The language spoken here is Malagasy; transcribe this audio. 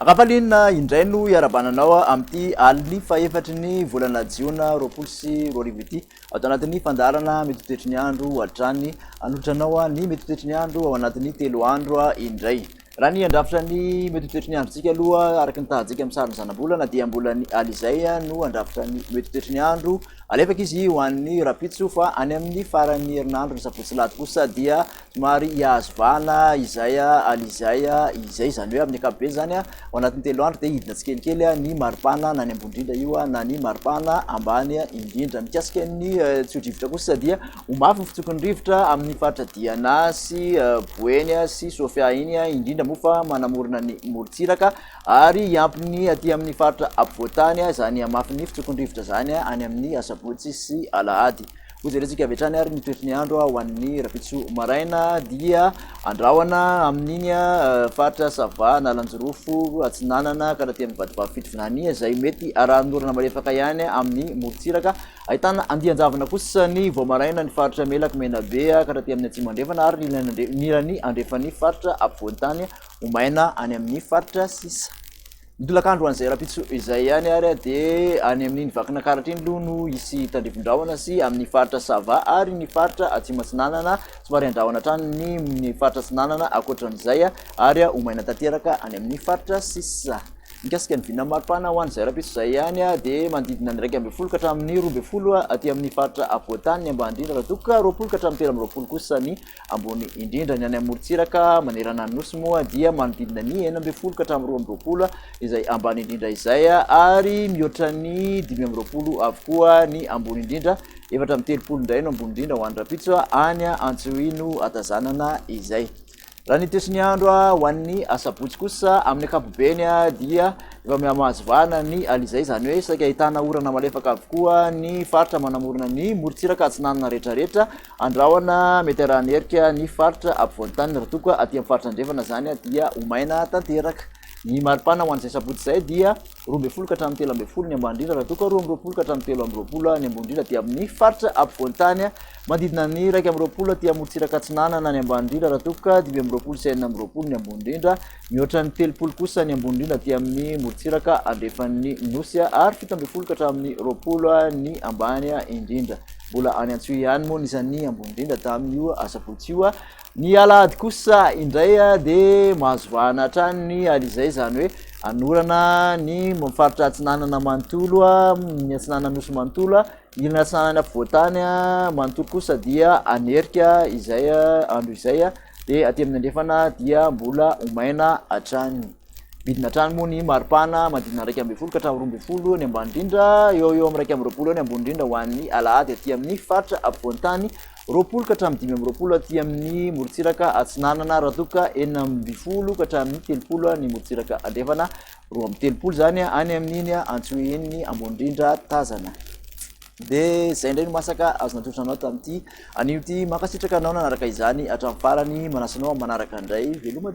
Ravalina indray no hiarabana anao amin'ity alin'ny fahefatry ny volana jiona roapolo sy roa arivo ity ato anatin'ny fandaharana mitotetry ny andro hatrany anolotranao ny mitotetry ny andro ao anatin'ny telo andro indray Raha ny handrafitra ny mety ho toetry ny androntsika aloha, araka ny tahantsika amin'ny sarin'ny zanabolana, dia mbola ny alizay no handrafitra ny mety ho toetry ny andro. Alefaka izy ho an'ny rahampitso, fa any amin'ny faran'ny herinandro, ny sabotsy sy lahady kosa dia somary hihazo vahana izay alizay izay. Izany hoe amin'ny ankapobeny izany, ao anatin'ny telo andro dia hidina tsikelikely ny maripana na ny ambony indrindra io na ny maripana ambany indrindra. Mikasika ny tsio-drivotra kosa dia. Ho mafy ny fitsokon'ny rivotra amin'ny faritra Diana sy Boeny sy Sofia iny, indrindra moa fa manamorona ny morontsiraka ary hiampy ny aty amin'ny faritra apovoan-tany izany hamafin'ny fitsokon'ny rivotra izany any amin'ny asabotsy sy alahady. Hojerentsika avy hatrany ary ny toetry ny andro ho an'ny rapitso maraina dia andrahona amin'iny faritra Sava, Analanjirofo, Atsinanana ka taty amin'ny vadibavy Fitovinania izay mety arahin'orana malefaka ihany amin'ny morontsiraka Ahitana andian-javona kosa ny Voamaraina, ny faritra Melaky, Menabe ka hatraty amin'ny Atsimo Andrefana ary ny ilany andrefan'ny faritra Afovoantany ho maina any amin'ny faritra sisa. Ny tolakandro ho an'izay rahampitso izay ihany ary dia any amin'iny Vakinankaratra iny aloha no hisy tandrifindrahona sy amin'ny faritra Sava ary ny faritra Atsimo Atsinanana somary handrahona hatrany ny faritra Atsinanana ankoatran'izay ary ho maina tanteraka any amin'ny faritra sisa. Mikasika ny vinan'ny maripana ho an'izay rahampitso izay ihany dia manodidina ny iraika ambin'ny folo ka hatramin'ny roa ambin'ny folo aty amin'ny faritra afovoan-tany ny ambany indrindra raha toa ka roapolo ka hatramin'ny telo amby roapolo kosa ny ambony indrindra. Ny any amorontsiraka manerana ny nosy moa dia manodidina ny enina ambin'ny folo ka hatramin'ny roa amby roapolo izay ambany indrindra izay ary mihoatra ny dimy amby roapolo avokoa ny ambony indrindra, efatra amby telopolo indray no ambony indrindra ho an'ny rahampitso any Antsohihy no hatazanana izay. Raha ny toetry ny andro ho an'ny asabotsy kosa amin'ny ankapobeny dia efa mihamahazo vahana ny alizay, izany hoe saika ahitana orana malefaka avokoa ny faritra manamorona ny morontsiraka atsinanana rehetrarehetra andrahona mety arahan'ny herika ny faritra ampovoan-taniny, raha toa ka aty amin'ny faritra andrefana izany dia ho maina tanteraka. Ny maripana ho an'izay sabotsy izay dia. roa ambin'ny folo ka hatramin'ny telo ambin'ny folo ny ambany indrindra, raha toa ka roa amby roapolo ka hatramin'ny telo amby roapolo ny ambony indrindra dia amin'ny faritra apovoan-tany manodidina ny iraika amby roapolo aty amorontsiraka atsinanana ny ambany indrindra, raha toa ka dimy amby roapolo sy enina amby roapolo ny ambony indrindra, mihoatra ny telopolo kosa ny ambony indrindra aty amin'ny morontsiraka andrefan'ny Nosy ary fito ambin'ny folo ka hatramin'ny roapolo ny ambany indrindra. Mbola any Antsiohiany moa ny isan'ny ambony indrindra tamin'io asabotsy io Ny alahady kosa indray dia mahazo vahana hatrany ny alizay, izany hoe hanorana ny faritra atsinanana manontolo, ny atsinanana nosy manontolo, ilany atsinanana afovoan-tany manontolo kosa dia hanerika izay andro izay, dia aty amin'ny andrefana dia mbola ho maina hatrany. Midina hatrany moa ny maripana manodidina iraika ambin'ny folo ka hatramin'ny roa ambin'ny folo ny ambany indrindra, eo ho eo amin'ny iraika amby roapolo eo ny ambony indrindra ho an'ny alahady aty amin'ny faritra afovoan-tany. roapolo ka hatramin'ny dimy amby roapolo aty amin'ny morontsiraka atsinanana raha ka enina amby folo ka hatramin'ny telopolo ny morontsiraka andrefana roa amby telopolo zany any amin'iny antsoin'ny ambonindrindra tazana de zay indray no masaka azo natolotra anao tamin'ity anio ty mankasitraka anao nanaraka izany hatramin'ny farany manasanao manaraka indray veloma